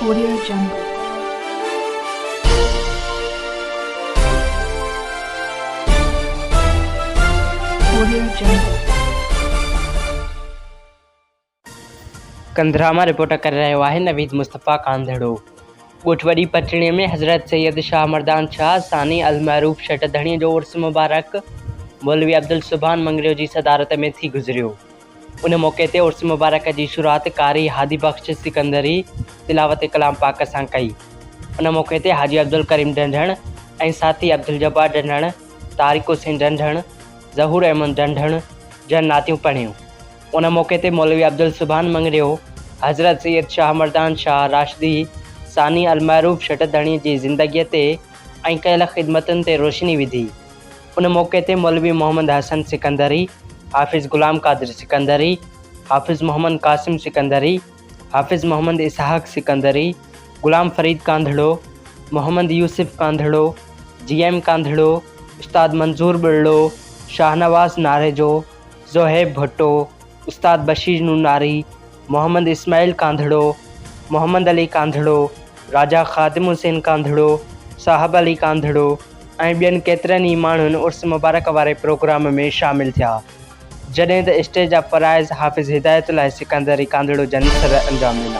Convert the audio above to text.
Audio جنگل ڪنڌرا مان report ڪري رهيو آهي نويد مصطفيٰ ڪانڌڙو. ڳوٺ وڏي پٽڙي ۾ حضرت سيد شاهه مردان شاهه ثاني المعروف شٽ ڌڻي جو عرس مبارڪ مولوي عبدالسبحان مڱريو جي صدارت ۾ ٿي گذريو. ان موقعي تي عرس مبارڪ جي شروعات قاري هادي بخش سڪندري تلاوت ڪلام پاڪ سان ڪئي. ان موقعي تي حاجي عبدالڪريم ڍنڍڻ ۽ ساٿي عبدالجبار ڍنڍڻ، طارق حسين ڍنڍڻ، ظهور احمد ڍنڍڻ جن نعتيون پڙهيون. ان موقعي تي مولوي عبدالسبحان مڱريو، حضرت سيد شاهه مردان شاهه راشدي ثاني المعروف شٽڌڻي جي زندگيء تي ۽ ڪيل خدمتن تي روشني وڌي. ان موقعي تي مولوي محمد حسن سڪندري، حافظ غلام قادر سڪندري، حافظ محمد قاسم سڪندري، حافظ محمد اسحاق سڪندري، غلام فريد ڪانڌڙو، محمد يوسف ڪانڌڙو، جي ايم ڪانڌڙو، استاد منظور ٻرڙو، شاهنواز ناريجو، زوهيب ڀٽو، استاد بشير نوناري، محمد اسماعيل ڪانڌڙو، محمد علي ڪانڌڙو، راجا خادم حسين ڪانڌڙو، صاحب علي ڪانڌڙو ۽ ٻين ڪيترن ئي ماڻهن عرس مبارڪ واري پروگرام ۾ شامل ٿيا، جڏهن ته اسٽيج آف فرائض حافظ هدايت الله سڪندري ڪانڌڙو جن سر انجام ڏنا.